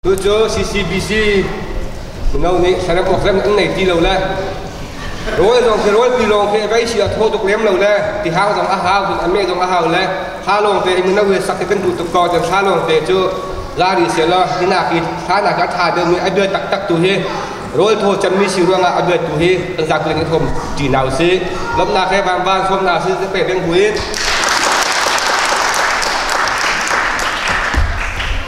Cucu CCBC mino nih serem awkrem an nei ti lo le rawl zong khi rawlpi lawng khi vei si a thaw tuk lem lo le tihang zong a hau cun a me zong a hau le ha lawng te i mino he sak i kan hmuh tuk ko cun thla lawng te cu lari se law hinak i thla nak a tha deuhmi a bia taktak tu hi rawl thaw cemmi si ruangah a bia tu hi kan zakuling i thawm ṭi na usih lomnak he vanvan sawmnak si pe beng hui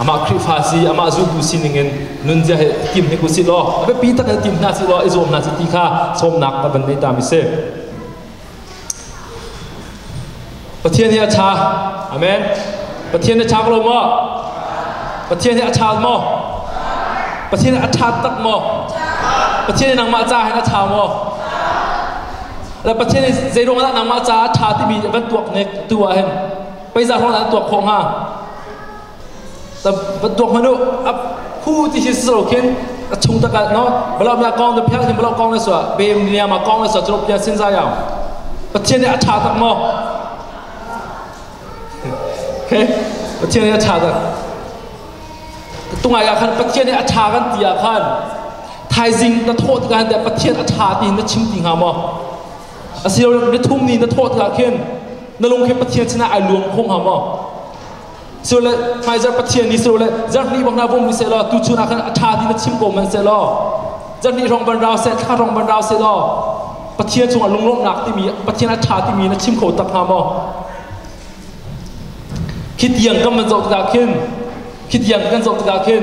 Amah Khrihfa si, amah zultu sining in nunzia he tim hi ku si law, a biapi tak he tim hna si law, i zuam hna si ti kha sawmnak a van nei ta mi si. Pathian hi a ṭha. Amen. Pathian a ṭha lo maw? Pathian hi a ṭha maw? Pathian hi a ṭha tak maw? Pathian hi nangmah ca hin a ṭha maw? Le Pathian hi zeiruangah dah nangmah caah a ṭha timi van tuak ne tu ah hin Peizah rawt ah tuak khawh hnga. Va tuak manu a phu ti hi silo khin a chung tak ah no blam la kong da phel hin blam kong na so bem niam a kong na so chulu pia sin za yang Pathian nih a tha tak mo okay Pathian nih a tha tak tungai ya khan Pathian nih a tha kan tia khan thaizing na thawh kan te Pathian a tha ti na chim ti nga mo Asiloah na thum ni na thawh tikah khin na lung khi Pathian sinah ai luang khawng hnga maw? Sule hmaizarh Pathian ni sule zarh hnih bang na vom bu sehlaw tu chun ah khan a ṭha ti na chim ko man sehlaw zarh hnih hrawng ban rau seh thla hrawng ban rau sehlaw Pathian cungah lunglawmhnak timi Pathian a ṭha timi na chim kho tak hnga maw? Khi tiang kan van zoh tikah khin khi tiang kan zoh tikah khin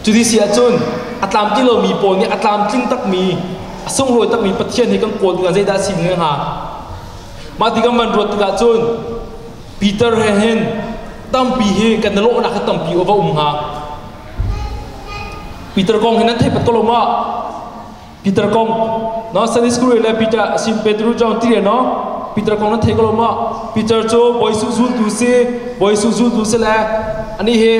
Cu ni si ahcun a tlamtling lomi pawl nih a tlamtling takmi a sunglawi takmi Pathian he kan kawl tikah zeidah a si hnga hnga? Mah tikah man ruat tikah cun Peter he hin tampi hi kan na lawhnak hi tampi va um hnga. Peter kong hi nan theiphat ko lo ma? Peter kong Nasaret skul le Peter asim Petru chong ti no Peter kong nan thei ko lo ma Peter cu boi su zultu si boi su zultu si le ani hi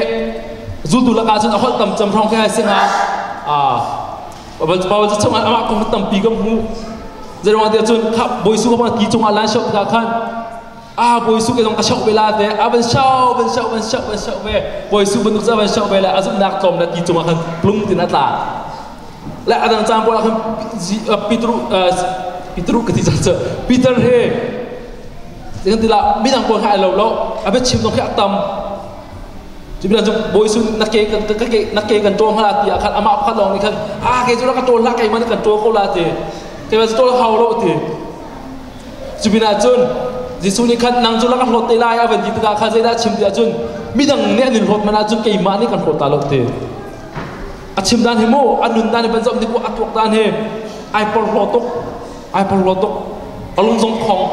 zultu laka cun a holh tam cham thong khai singa a babal chu chang ama kong tam pi ka mu zerwa te chun kha boi su ba ki chunga lan shop ka khan a bawi su ke zong ka shoh ve la te a van show van show van show van show ve bawi su banuk ca van show ve le a zumhnak tlawm le ti cungah khan plung tin a tla le a dang caan pawl ah khan Peter Peter ka ti ca Peter he dengan tila midang pawl kha ai lo lo a bit chim dong khi a tam Cubilan cu boy sun na ke kan ka ke na ke kan tol ngala ti akhan ama khan long ni khan a ke jura ka tol la ke man kan tol ko la ti ke ba tol hau lo ti Cu pinah cun Jesuh nih khan nang cu lak a hlawt te lai a van ti tikah kha zeidah a chim tiah cun midang nih an in hlawt man ahcun keimah nih kan hlawt ta lo te a chim dan hi mu a nun dan hi van zoh ni a tuak dan hi ai porhlaw tuk ai porhlaw tuk a lung zong khong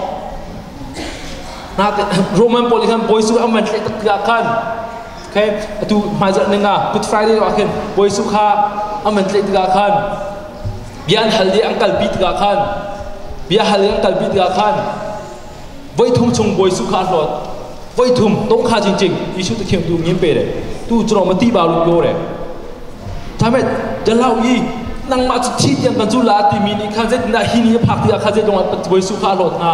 nate Roman pawl in khan Bawi Jesuh an van hleh tak tikah khan Okay, atu hmaizarh ning ah Good Friday no khin Bawi Su kha an man tlaih tikah khan bia an hal i an kalpi tikah khan bia hal i an kalpi tikah khan voi thum chung Bawi Su kha a hlawt voi thum tong kha jing jing Jesuh ta khiam tu ngim pe re tu chro ma ti ba lu ko re thamet jalau yi nang ma chi tiang kan zu la ti mi ni khan zeitinda hi ni phak tikah khan zeitlong an Bawi Su kha a hlawt nga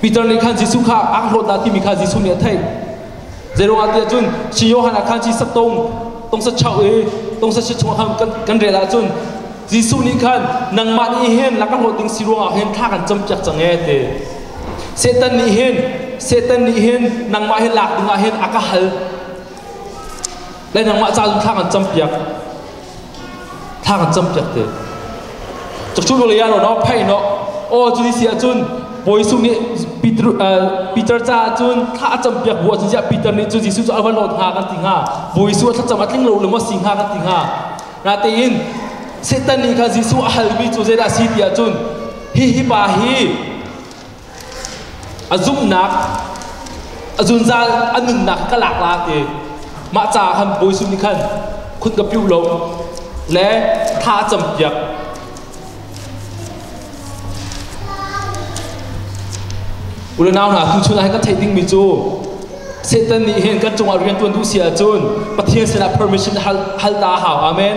Peter nih khan Jesuh kha aa hlawtnak timi kha Jesuh nih a theih. Zeiruangah tiah cun si Johan ah khan si sak tong tongsa chauh i tongsa si chungah khan kan, kan rel ahcun Jesuh nih khan nangmah nih hen laka hlawt ding si ruangah hin thla kan campiak cang e te. Satan nih hin Satan nih hin nangmah hi lak dingah hin a ka hal le nangmah caah thla kan campiak thla kan campiak te chukchu vale ya lo no phai no o chuni si ahcun Boisu nih Peter Peter ca ahcun thla a campiak bu ahcun ziah Peter nih cu Jesuh cu a van lot ha kan ti hnga Boisu a thlacam a tling lo lengwa si hnga kan ti hnga natein Satan nih kha Jesuh a halmi cu zeidah si ti ahcun hi hi pa hi A zumhnak, a zunzal a nunnak ka lak la te mah caah han bawi sum nih khan khun ka piu lo le tha a campiak unau hna tuchun ah hin kan theih dingmi cu Satan nih hin kan cungah riantuan duh si ahcun Pathian sinah permission hal hal ta a hau amen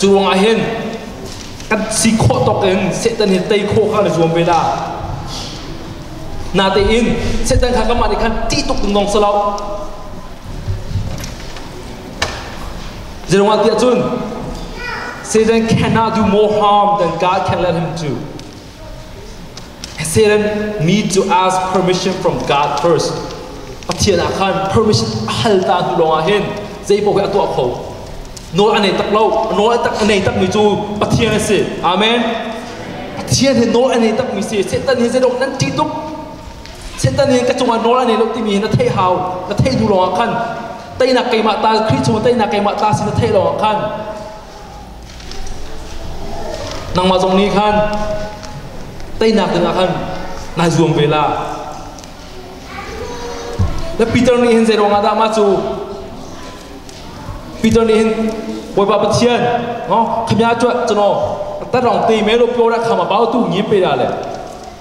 Cu ruangah hin kan si khawh tawk in Satan hi tei khawh kha na zuam ve da. Natein Satan kha kanmah nih khan ṭih tuk dungdong si lo. Zeruangah tiah cun Satan cannot do more harm than God can let him do. Then me to ask permission from God first. Pathian ah khan permission a hal ta tu lawngah hin zeipaoh hi a tuah kho. Nawl a nei tak lo, nawl tak nei tak mi cu Pathian a si. Amen. Pathian hi nawl a nei tak mi si. Satan hi zeidong nan ṭih tuk. Satan hi ka cungah nawl a nei lo timi hi na theih hau, na theih hnu lawngah khan teinak keimah ta Khrih chung teinak keimah ta si na theih lawngah khan Nangmah zong nih khan teinak dingah khan nai zuam ve la. Na Peter nih hin zei ruangah dah mah cu Peter nih hin Bawipa Pathian ngo khamya cu cano tat rong te me lo pyo ra khama bao tu ngi pe da le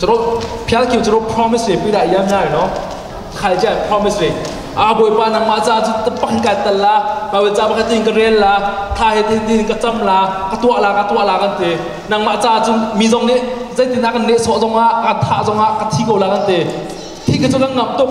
Caro phial kiu caro promise ve pi da yam nai no khai ja promise ve a boipa nang ma cha chu tapang ka tal la pawel cha ba ka tin ka rel la tha he tin tin ka cham la ka tua la ka tua la kan te nang ma cha chu mi zong ne zeitina kan ne so zong a ka tha zong a ka thi ko la kan te thi ke chu kan ngam tuk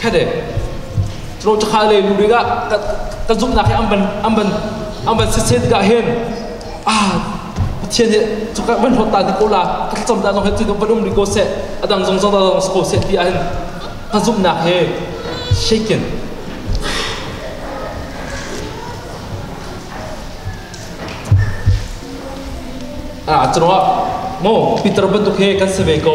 khade cro chakha le lu ring ah ka zumhnak hi an ban an ban an ban set set ga hen ah pathian hi chu ka ban hlot ta ko la ka thlacam ta no he tu ka ban um ri ko se adang zong zong dang ko se ti an ka zumhnak he shaken ah cro mo peter bantuk he kan save ko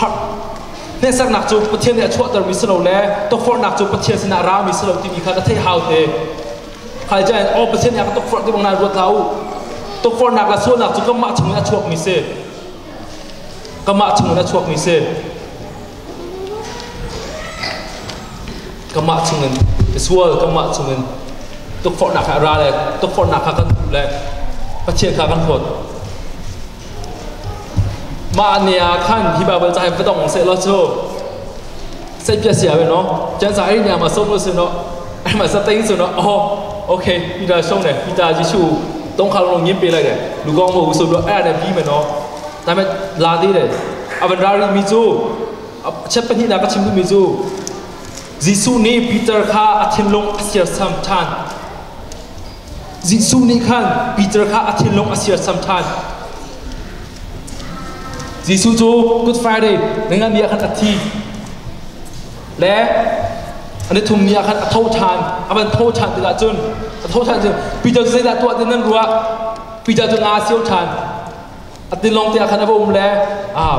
harh hnesernak cu Pathian nih a chuahtermi si lo le tukforhnak cu Pathian sinah a rami si lo timi kha ka theih hau te khai jain aw Pathian nih a ka tukforh ti bang nai ruat hlah u tukforhnak le sualnak cu kanmah chungin a chuakmi si kanmah chungin a chuakmi si kanmah chungin sual kanmah chungin tukforhnak he a ra le tukforhnak kha kan hmuh le Pathian kha kan huat Mah ne ah khan hi Bible ca hi va dong seh law cu set pia sia no chan sa ri ne ma som lo se no ai ma sa ting se no oh okay ida song ne ita Jesu tong khal no ngim pe lai de lu gong mo usul lo ai ne bi ma no ta me la di de avan ra ri mi chu chep pani na ka chim mi chu Jesu nih Peter kha a thinlung a sirsam than Jesuh nih khan Peter kha a thinlung a sirsam ṭhan. Jesuh cu Good Friday na nganbia khan a thi le an i thumni ah khan a tho ṭhan a van tho ṭhan tikah cun a tho ṭhan cun Peter cu zeidah tuah ti nan ruah Peter cu nga a sio ṭhan a tilawng te ah khan a va um le aa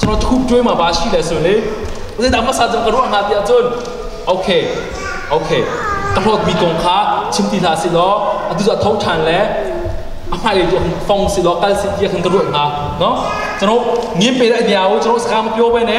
cun thup ṭuema ba shi le sun i zeidah hmasa cun ka ruah hnga tiah cun ok ok ka hlawtmi kong kha chim ti hlah si law atu cu a tho ṭhan le a hmailei tu fong si law kal si tiah khan ka ruah hnga no cun ngiam pe le niao cun sakam pyo ve ne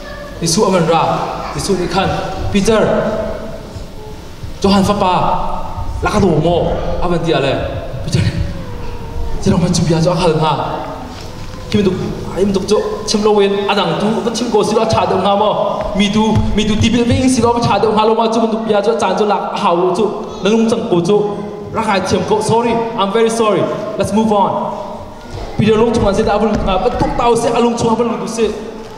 Jesuh a van ra. Jesuh nih khan, Peter, Johan fapa, laka daw maw? A van ti a le, Peter nih, Zeidang cu bia cu a hal hnga? Khi bantuk ai bantuk cu chim lo in a dang tu va chim ko si law a tha deuh hnga maw? Mi tu mi tu tipil ve ing si law va tha deuh hnga lo ma cu bantuk bia cu a caan cu lak a hau lo cu na lung cang ko cu rak hai thiam ko sorry I'm very sorry let's move on Peter lung chungah zeidah a van lut hnga va tuk ta u sih a lung chungah van lut u sih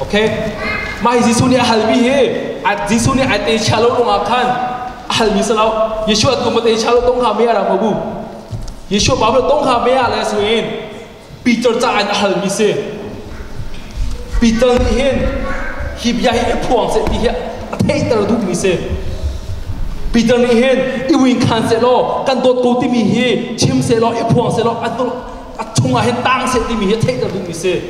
Okay mah hi Jesuh nih a halmi hi Jesuh nih ai te chia lo ruangah khan a halmi si lo Yeshua tum te chia lo tong kha me ara mabu Yeshua Bible tong kha me ala su in Peter ca an a halmi si Peter nih hin hi bia hi phuang se ti hi a theiter duhmi si Peter nih hin i wing khan se law kan dawt ko timi hi chim se law i phuang se law a chung ah hin tang se timi hi a theiter duhmi si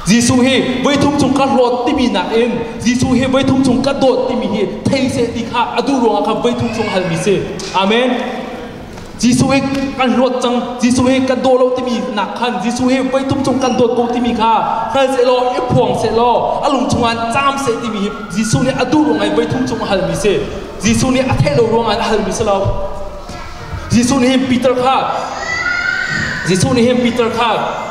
Jesuh hi voithum chung ka hlawt timi nakin Jesuh hi voithum chung ka dawt timi hi thei seh ti kha a duh ruangah kha voithum chung hal mi si. Amen. Jesuh hi kan hlawt cang Jesuh hi kan daw lo timi nak khan Jesuh hi voithum chung kan dawt ko timi kha hral seh law i phuang seh law a lung chungah caam seh timi hi Jesuh nih a duh ruangah voithum chung a hal mi si Jesuh nih a theih lo ruangah a hal mi si lo Jesuh nih hin Peter kha Jesuh nih hin Peter kha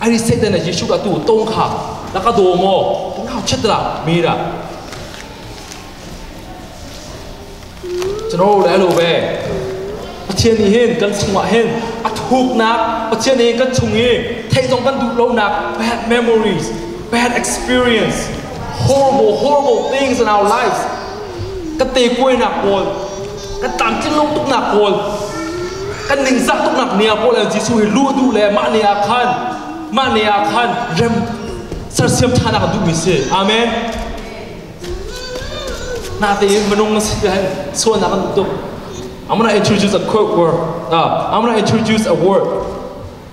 Ari Satan na Jesuh atu tong kha na ka do mo na chet la mira Chano le alo ve Pathian nih hin kan chungah hin a thuknak Pathian nih kan chung i theizong kan duh lonak bad memories bad experience horrible horrible things in our lives ka te kuainak pawl kan tlamtlinlo tuknak kawl kan ningzak tuknak ni ah Paul le Jesuh hi luh duh le mah ni ah khan mah ni ah khan rem sersiam ṭhanak a duhmi si amen nate in manung na si hen sualnak an tuk I'm gonna introduce a quote word uh, I'm gonna introduce a word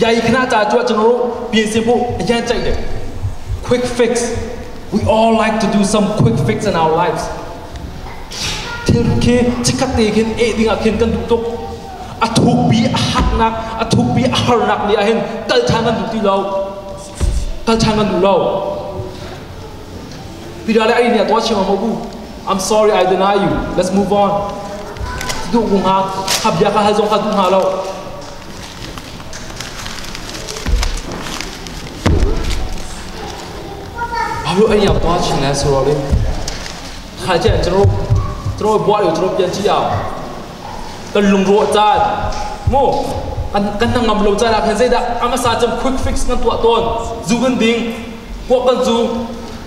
yai khna cha chu chun ru pi si bu yan chai de quick fix we all like to do some quick fix in our lives thil khi chikhat te khin e ding akhin kan duh tuk a thuk bi a haknak a thuk bi a harnak ni ahin tal than an duh ti lo tal than an duh lo pidale ai nia to chima mo bu I'm sorry I deny you let's move on du gu ha habya ka hal zong ka du ha lo Phu an yam tua chin le suro le khai chen chro chro bua yo chro pian chi ah kan lung ro chan mo kan kan tang ngam lo chan ah khan zei dah ama sa cham quick fix ngan tua ton zu kan ding ko kan zu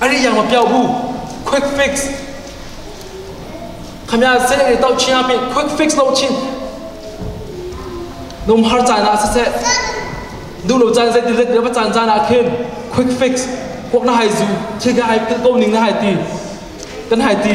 Ani yang lo piao bu quick fix khamya sele ne tau chia pe quick fix lo chin num har chan a se du lo chan se dilet be chan chan a khin quick fix quốc na hai zu thi ga hai pil kom ning na hai ti kan hai ti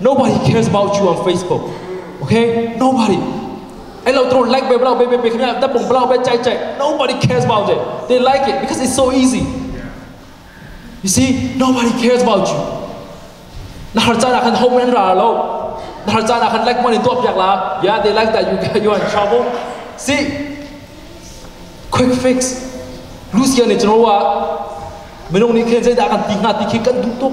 Nobody cares about you on Facebook. Okay? Nobody. Ai lo tro like be blau be be be kena da bong blau be chai chai. Nobody cares about it. They like it because it's so easy. You see, nobody cares about you. Na har chan kan home and ra lo. Na har chan kan like money to up la. Yeah, they like that you you are in trouble. See, quick fix. Lucia ne chro wa. Minung ni khen sai da kan ti nga ti khi kan du tuk.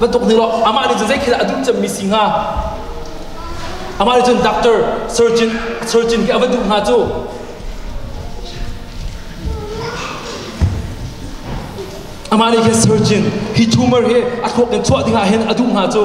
Bantuk ni lo amah nih cun zeikhi dah a duh cemmi si hnga amah nih cun doctor surgeon surgeon khi a va duh hnga cu amah nih khin surgeon hi tumor hi a thluak in chuah ding ah hin a duh hnga cu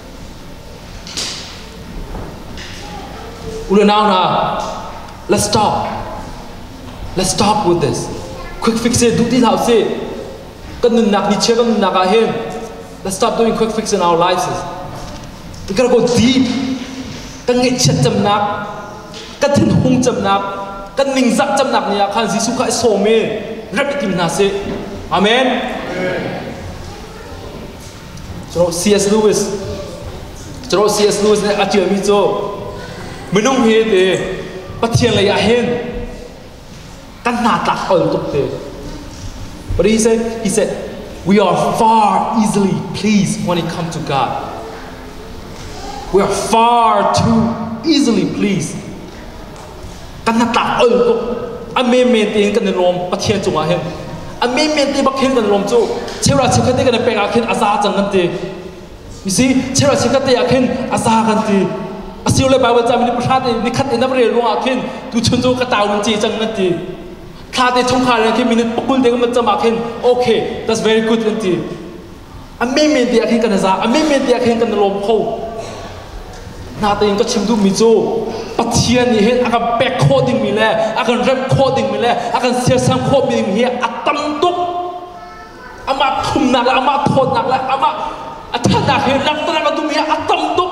Unau hna, let's talk. Let's talk with this. Quick fix it, duh ti hlah usih. Kan nunnak nichia kan nunnak ah hin let's stop doing quick fix in our lives. We gotta go deep. Kan ngaihchiat cemnak, kan thinhung cemnak, kan ningzak cemnak ni ah khan Jesuh kha i sawm i rep i tim hna sih. Amen. Amen. Cu C.S. Lewis cu C.S. Lewis nih a ṭialmi cu minung he te Pathian lei ah hin kan hna tlak ol tuk te But he said, he said, we are far easily pleased when it comes to God. We are far too easily pleased kan hnatlak ol a menmen tein kan i lawm pathian cungah hin a menmen te bak hin kan lawm cu cheuhra chekhat te kan i pek ah khin a za cang kan ti you see cheuhra chekhat te ah khin a za kan ti a siu le bible cami ni pahra te ni khat in am rel ruangah khin tu chun cu ka tau nun ci cang kan ti thla te chungkhar he khin minute pul te kan cam ah khin okay that's very good kan ti a meme tiah khin kan i za a meme tiah khin kan i lawm kho na tein ka chim duhmi cu Pathian nih hin a kan pek khawh dingmi le a kan remh khawh dingmi le a kan siasam khawhmi ding hi a tam tuk amah khumnak le amah thawtnak le amah a thatnak hi langhter a duhmi hi a tam tuk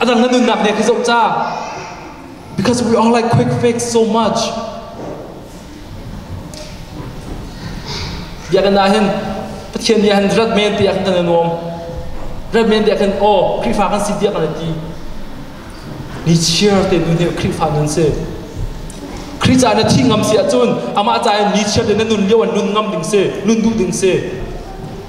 A dang na nunnak nih ka zoh ca because we all like quick fix so much biakinn ah hin Pathian nih han rat men ti kan nan nuam rat men ti kan oh Khrihfa kan si dia kan ti ni cheer te nu ne Khrihfa nun se Khrih ca na thi ngam si ahcun amah ca in ni cheer te na nun lio an nun ngam ding se nun duh ding se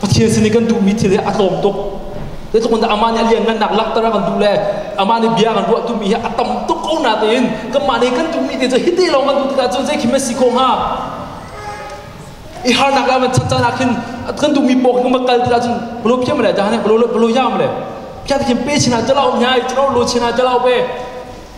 Pathian sin i kan duhmi thil hi a tlawm tuk. Zeitluk in amah nih a lianngannak lakter a kan duh le amah nih bia kan ruah tumi hi a tam tuk ko natein kanmah nih kan duhmi te cu hiti lawng kan duh tikah cun zei khi maw si khawh hnga? I harnak le a man chat caan ah khin kan duhmi paw khi kal tikah cun bolo phiam le daan he bolo bolo yam le kya ti khin pe chin ah jalao nya i jalao lo chin ah jalao pe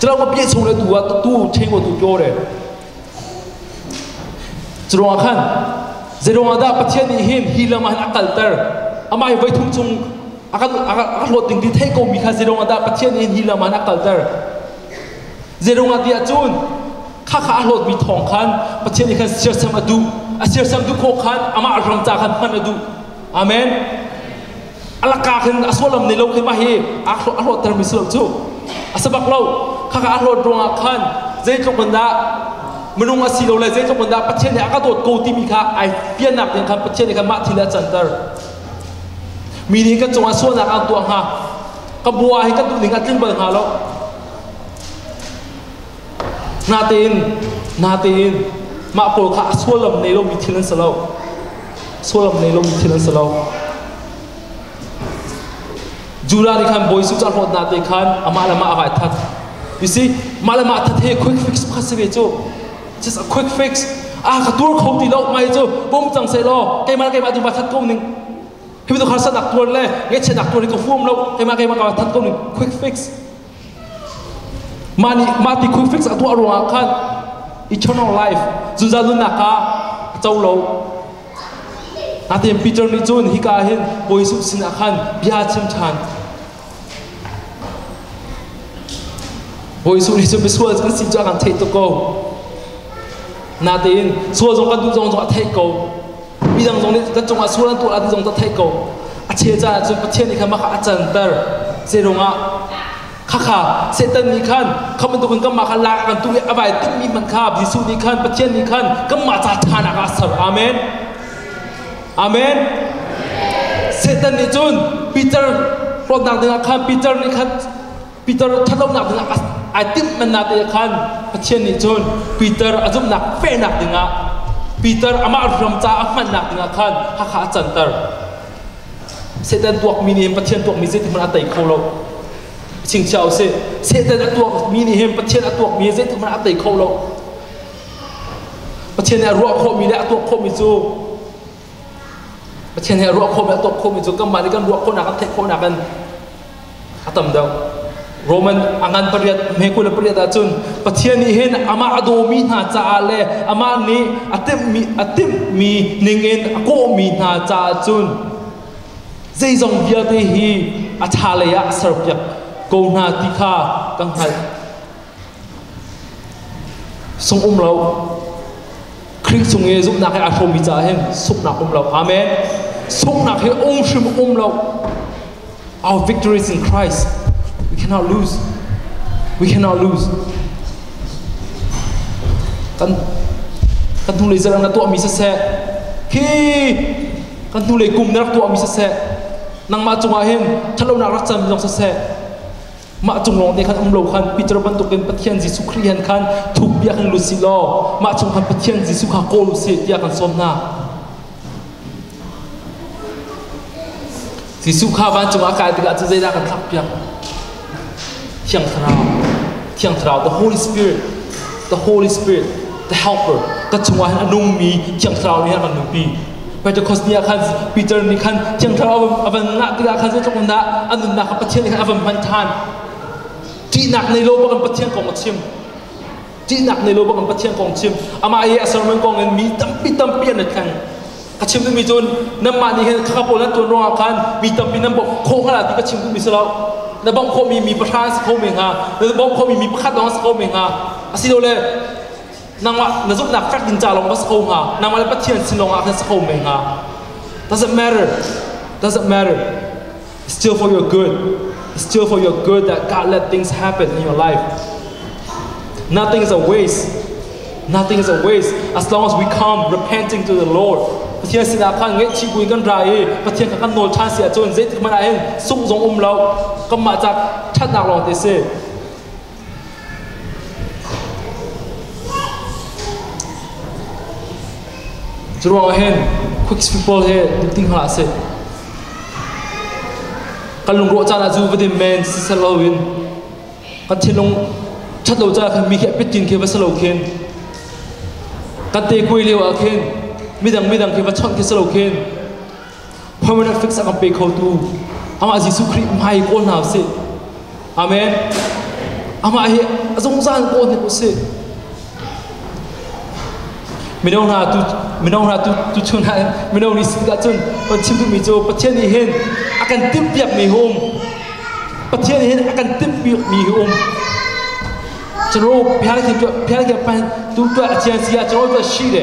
Curawng ka pie chung le tu ah tu cheng tu pyo re. Curawng khan zeiruang ah dah Pathian nih hin hi lam ah a kalter amah hi voi thum chung akan akan hlawt ding ti thei ko mi kha zeiruang ah dah Pathian nih hi lam ah a kalter zeiruang ah tiah cun kha kha a hlawt mi thawng khan Pathian nih khan sirsam a duh a sirsam duh kho khan amah rangca khan hman a duh amen alaka hin a sualam nei lo khima hi a hlawhtermi si lo cu a sabak lo khaka a hlawt ruangah khan zeitluk in dah minung a si lo le zeitluk in dah pathian he a ka dawt ko timi kha ai piannak ding khan pathian nih khan mah thil a canter mi nih kan cungah sualnak an tuah hnga ka bua hi kan duhning a tling bal hnga lo Natein, natein mah pawl kha a suallam nei lomi thil an si lo. Suallam nei lomi thil an si lo. Judah nih khan bawi Suca hlawt nate khan amah le mah a vai that. You see, mah le mah that he quick fix pakhat si ve cu. Just a quick fix. Ah ka tuar kho ti lo mai cu bom cang se lo keimah keimah ti va that ko ning. Hi tu kha sanak tuar le nge chenak tuar hi ko fuam lo keimah keimah ka va that ko ning quick fix. Mah nih mah ti quick fix a tuah ruangah khan eternal life zunza nunnak ah co lo natein Peter nih cun hika ah hin Bawi Jesuh sinah khan bia chim ṭhan Bawi Jesuh nih cun misual kan si cu a kan theih tuk ko natein sual zong kan duh zong zong a theih ko midang zong nih kan cungah sual an tuah an zong kan theih ko a che caah cun Pathian nih khan maka a canter zeirungah khakha setan nih khan kha bantukin kanmah kha lak kan tuh i a vai tummi man kha Jesuh nih khan Pathian nih khan kanmah ca ṭhanak ah a ser amen amen Satan nih cun Peter hlawtnak dingah khan Peter nih khan Peter ṭhatlonak dingah ai timhmannak te khan Pathian nih cun Peter a zumhnak pehnak dingah Peter amah hram ca a hmannak dingah khan Hakha a canter. Satan tuakmi nih hin Pathian tuakmi zeitikhmanh a tei kho lo. Chingchia u sih. Satan a tuakmi nih hin Pathian a tuakmi hi zeitikhmanh a tei kho lo. Pathian nih a ruah khawhmi le a tuak khawhmi cu Pathian he ruah khawhmi a tuak khomi cu kanmah nih kan ruah khawhnak kan theih khawhnak in a tam deuh. Roman a ngan pariat, hmekul pariat ahcun Pathian nih hin amah a dawmi hna caah le amah nih a timhmi a timhmi ningin a kawhmi hna caah cun zeizong vialte hi a tha lei ah a serpiak ko hna ti kha kan hngalh. Sung um lo. Khrih cung i zumhnak he aa hrawmmi caah hin sunghnak um lo. Amen. Sunghnak hi um hrim um lo. Our victory is in Christ. We cannot lose. We cannot lose. Kan kan hnulei zarang na tuahmi siseh, khi kan hnulei kum na rak tuahmi siseh, nangmah cungah hin ṭhatlonak rak cam zong siseh, mah cung lawng te khan um lo khan Peter bantuk in Pathian Jesuh Khrih han khan thuk bia kan lut si law mah chung khan Pathian Jesuh kha kawl u si tiah kan sawm hna Jesuh kha vancung ah kai tikah cu zeidah kan thlak piak Thiang Thlarau Thiang Thlarau the Holy Spirit the Holy Spirit the helper ka chungah hin a nungmi Thiang Thlarau nih han kan nungpi Pentecost ni ah khan Peter nih khan thiang thlarau a van ngah tikah khan zeitluk in dah a nunnak kha Pathian nih khan a van hman ṭhan ṭihnak nei lo bak in Pathian kong a chim ṭihnak nei lo bak in Pathian kong chim amah i a sermon kong in mi tampi tampi an i thleng ka chim duhmi cun nanmah nih hin khaka pawl nan tuan ruangah khan mi tampi nan bawmh khawh hnga ti ka chim duhmi si lo na bawmh khawhmi mi pahra an si kho men hnga na bawmh khawhmi mi pakhat lawng an si kho men hnga asilole nangmah na zumhnak fek in ca lawng va sa ko hnga nangmah le pathian sin lawng ah khan sa ko men hnga doesn't matter doesn't matter it's still for your good it's still for your good that God let things happen in your life nothing is a waste nothing is a waste as long as we come repenting to the Lord Pathian sinah khan ngaihchih bui kan ra i Pathian kha kan nawl ṭhan si ahcun zeitik hmanh ah hin sungh zong um lo kanmah ca ṭhatnak lawng te si Cu ruangah hin Quds people hi duh ti hngah a si. Kan lungrawh caan ah cu va dim men sisel lo in kan thinlung ṭhat lo caah khan mi khi a pit tin khi va si lo khin kan te kuai lio ah khin midang midang khi va chawnh khi si lo khin permanent fix a kan pe khotu amah Jesuh Khrih hmai kawl hna usih amen amah hi a zungzal kawl hnik usih mino hna tu mino hna tu tu chun ha mino nih sin ka chun on chim tu mi cu pathian nih hin a kan tim piak mi hum pathian nih hin a kan tim piak mi hi um chero piang thi piang thi pan tu tu a chian sia chero tu shi de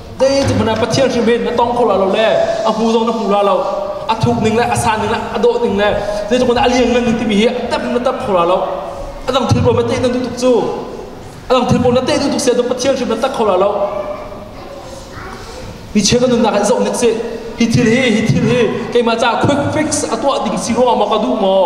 Zeiti hmanh ah Pathian hrim hin na tong kho la lo le a hmu zong na hmu la lo a thuk ning le a san ning le a dawh ning le zeitik hmanh ah a liang ngan ning timi hi a tep na tep kho la lo a dang thil pawl na teh nan duh tuk cu a dang thil pawl na teh duh tuk sia tu Pathian hrim na tak kho la lo mi cheu nan nunnak hi zoh nik si hi thil hi hi thil hi keimah caah quick fix a tuah ding si ruangah maw ka duh maw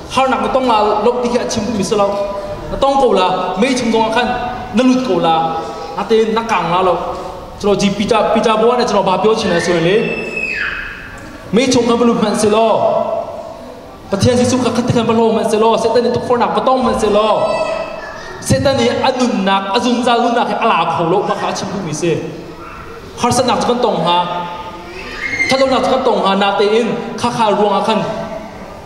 harnak na tong la lok ti hi a chim mi si lo na tong ko la mei chung zong ah khan na lut ko la na te na kang la lo chro ji pita pita bua ne chro ba pyo chin na soi le mei chung ka balu man si lo pathian jesu ka khat khan balo man se lo setan ni tukfornak batong man se lo setan ni anunnak azunza lunak hi ala kho lo ma kha chim bu mi se harsanak kan tong ha thatonak kan tong ha na te in kha kha ruang a khan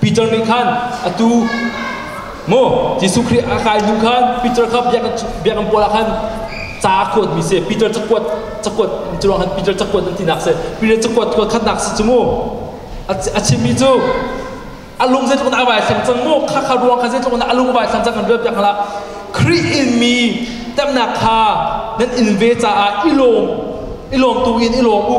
Peter nih khan atu mu Jesuh Khrih a kai hnu khan Peter kha biakinn biakinn pual ah khan ca a kuatmi si Peter cakuat cakuat cu khan Peter cakuat an tinak si Peter cakuat kuat khatnak si cu mu a chimmi cu a lung zeitluk in a vai thlang cang mu kha kha ruang kha zeitluk in a lung a vai thlang cang kan biak biak hala Khrih inmi temnak kha nan in ve caah i lawm i lawm tu in i lawm u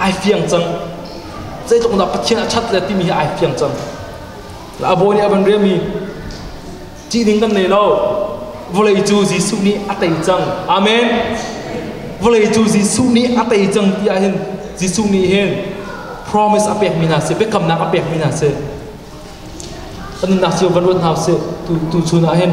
ai fiang cang zeitluk dah pathian a that le timi hi ai fiang cang a bawi nih a van riam i ṭih ding kan nei lo vawlei cu Jesuh nih a tei cang amen vawlei cu Jesuh nih a tei cang ti ah hin Jesuh nih hin promise a pekmi hna si biakamnak a pekmi hna si kan nunnak cio van ruat hna sih tu tu chun ah hin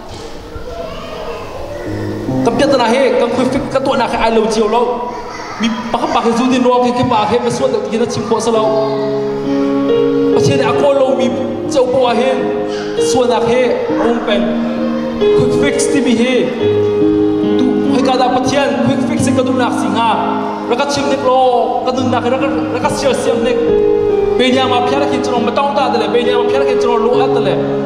Ka piatana he kan khui fik ka tuahna khe ai lo cio lo. Mi pakhat pa he zu din ro ke ke pa he ba suat le kin a chim ko sa lo. Pathian ne a ko lo mi chau po a he suana he om peng quick fix timi he tu hoi ka da pathian quick fix se ka du nak singa raka chim nek lo ka nun nak raka raka sial siam nek pe nya ma phiara kin chong ma tong ta de le pe nya ma phiara kin chong lo at de le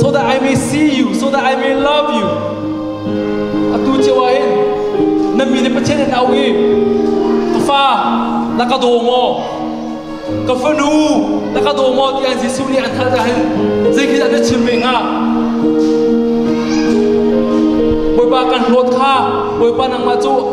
so that I may see you, so that I may love you. Atu cio ah hin na mi nih Pathian an auh i ka fa na ka daw maw? Ka fanu na ka daw maw ti an Jesuh nih an hal ahhin zeikhizah na chim ve hnga? Bawipa kan hlawt kha Bawipa nangmah cu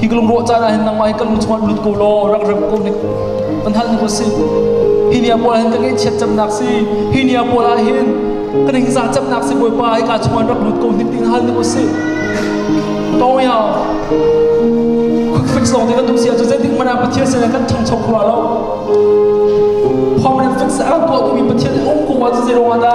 hi ka lungrawh caan ah hin nangmah hi ka lu chungah lut ko law rak rem ko nik kan hal ning si hi nia pawl hin ka ngaihchiat cemnak si hi nia pawl ah hin ka ningza cemnak si bawipa hi ka chungah rak lut ko nik ding hal ning si to ya fix lawng te kan tum sia cu zeitik mana pathian se kan chang chok khura lo pom ne fix a tuah tu mi pathian um ko wa cu zero anda